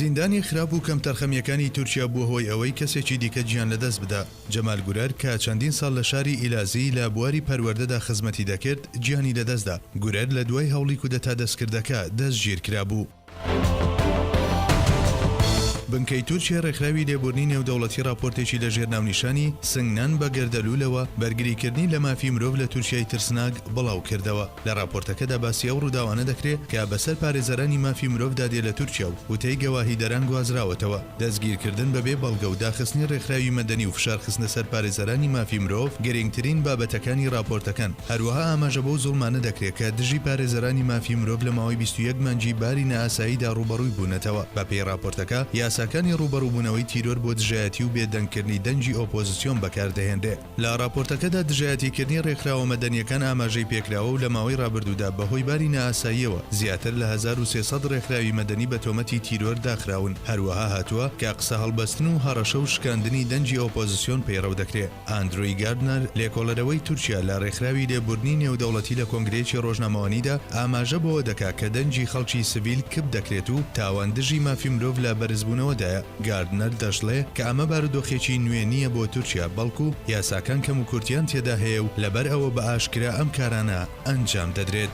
زیندانی خراپ و کەمتەرخەمییەکانی تورکیا بووە هۆی ئەوەی کەسێکی دیکە گیان لەدەست بدا. جەمال گورەر کە چەندین ساڵ لە شاری ئیلازی لە بواری پەروەردەدا خزمەتی دەکرد، گیانی لەدەستدا. گورەر لە دوای هەوڵی کودەتا دەستکردەکە دەستگیرکرابوو. بنکەی تورکیای ڕێکخراوی لێبوورنی نێودەوڵەتی ڕاپۆرتێکی لەژێر ناونیشانی، سنگنان بە گەردەلوولەوە، بەرگریکردنی لە مافی مرۆڤ لە تورکیای ترسناک، بڵاوکردەوە. لە ڕاپۆرتەکەدا باسی ئەو ڕووداوانە دەکرێت کە بەسەر پارێزەرانی مافی مرۆڤدا دێ لە تورکیا و وتەی گەواهیدەران گوازراوەتەوە. دەستگیرکردن بەبێ بەڵگە و داخستنی ڕێکخراوی مەدەنی و فشار خستنە سەر پارێزەرانی مافی مرۆڤ گرینگترین بابەتەکانی ڕاپۆرتەکەن، هەروەها ئاماژە بەو زوڵمانە دەکرێت کە دژی پارێزەرانی مافی مرۆڤ لە ماوەی بیست و یەک مانگی باری نائاساییدا ڕووبەڕووی بوونەتەوە، بەپێی ڕاپۆرتەکە یاساکانی ڕووبەڕووبوونەوەی تیرۆر بۆ دژایەتی و بێدەنگکردنی دەنگی ئۆپۆزسیۆن بەکاردەهێنرێت. لە ڕاپۆرتەکەدا دژایەتیکردنی ڕێکخراوە مەدەنیەکان ئاماژەی پێکراوە و لە ماوەی ڕابردوودا بەهۆی باری نائاساییەوە زیاتر لە هەزار و سێ سەد ڕێکخراوی مەدەنی بە تۆمەتی تیرۆر داخراون، هەروەها هاتووە کە قسە هەڵبەستن و هەڕەشە و شکاندنی دەنگی ئۆپۆزسیۆن پەیڕەو دەکرێ. ئاندرۆی گاردنەر، لێکۆڵەرەوەی تورکیا لە ڕێکخراوی لێبووردنی نێودەوڵەتی لە کۆنگرەیەکی ڕۆژنامەوانیدا ئاماژە بەوە دەکا کە دەنگی خەڵکی سڤیل کپ دەکرێت و تاوان دژی مافی مرۆڤ لە بەرزبوونەوەدایە. گاردنەر دەشڵێ کە ئەمە بارودۆخێکی نوێ نییە بۆ تورکیا، بەڵکو یاساکان کەموکورتییان تێدا هەیە و لەبەر ئەوە بە ئاشکرا ئەم کارانە ئەنجام دەدرێت.